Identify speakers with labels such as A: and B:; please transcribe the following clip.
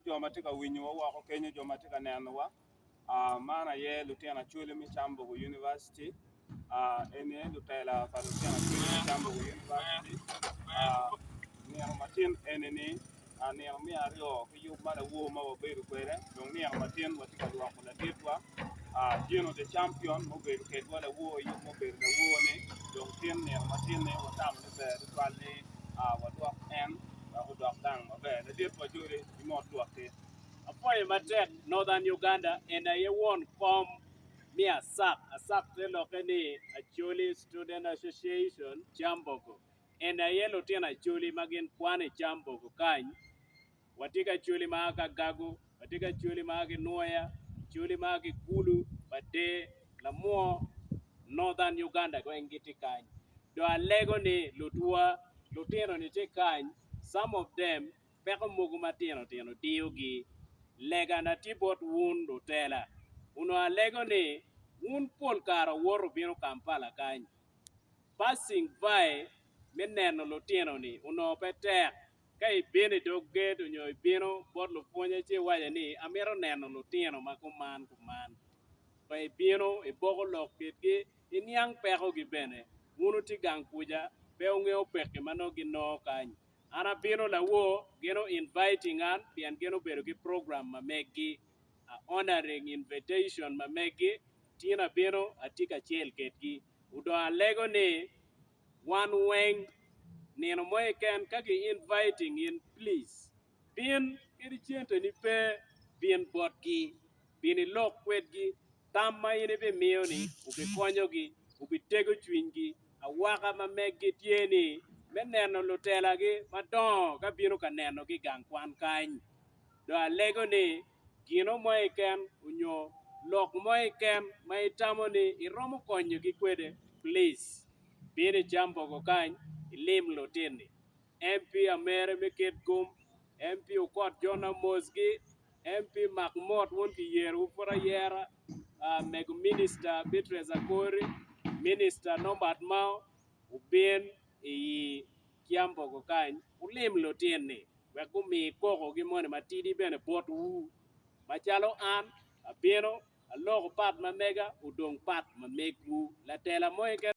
A: jo ma tye ka winyowa woko kenyo, jo ma tye ka nenowa, aa, man aye lutino Acholi me Cambogo University, aa, eni aye lutela pa lutino Acholi me Cambogo University, aa, nino matin eni ni, aa, nino me aryo ki yub ma lawor ma wabedo kwede, dong nino matin watye ka lwoko laditwa, aa, Gino the Champion ma obedo kedwa lawor i yub ma obedo lawor-ni, dong tin nino matin-ni watamo ni ber tutwal ni. a wadwok en wek odok gang maber ladit pa jodi ki mot lwakki. Apwoyo matek Northern Uganda en aye won kom me ASAC, ASAC te lokke ni Acholi Student Association Kyambogo en aye lutino Acholi ma gin kwan i Kyambogo kany Watye ki Acholi ma a ki Agago, watye ki Acholi ma a ki Nwoya, Acholi ma a ki Gulu, Bader, Lamwor, Northern Uganda weng gitye kany. Dong alego ni lutwa, lutino ni tye kany, some of them peko mogo matino tino diyogi. Lega na tye bot wun lutela, onongo alego ni wun pol kare owoto obino Kampala kany. Passing by me neno lutino ni onongo pe tek Ka ibino i dog gedo onyo ibino bot lupwonye ci iwace ni amito neno lutino ma kuman kuman. Pe ibino iboko lok kitgi, iniang pekogi bene. Wun wuti gang kuca, pe wungeyo pekki ma nongo ginongo kany. An abino lawoo, gin o inviting an pien gin obedo ki program ma meggi. A honoring invitation ma meggi, tin abino, atye kacel kitgi. Odong alego ni. wan weng nino mo keken ka ki inviting in please bin kadi cente ni pe bin bot gi bin ilok kwed gi tam ma in ibi miyo ni obi konyo gi obi tego cwiny gi awaka ma megi tye ni me neno lutela gi madongo ka bino ka neno gi igang kwan kany dong alego ni gino mo keken onyo lok mo keken ma itamo ni iromo konyo gi kwede, please bin i Kyambogo kany ilim lutini MP Amere me Kit Gum, MP Okot Jona Mosgi, MP Mak Mot wun ki yero wu pud ayera, mego Minister Beatrice Akori, Minister Norbert Mao wubin i Kiambogo kany, wulim lutin-ni, wek gumi kokogi moni matidi bene botwu, macalo an abino, aloko pat ma mega, odong pat ma megwu. Latela mo keken.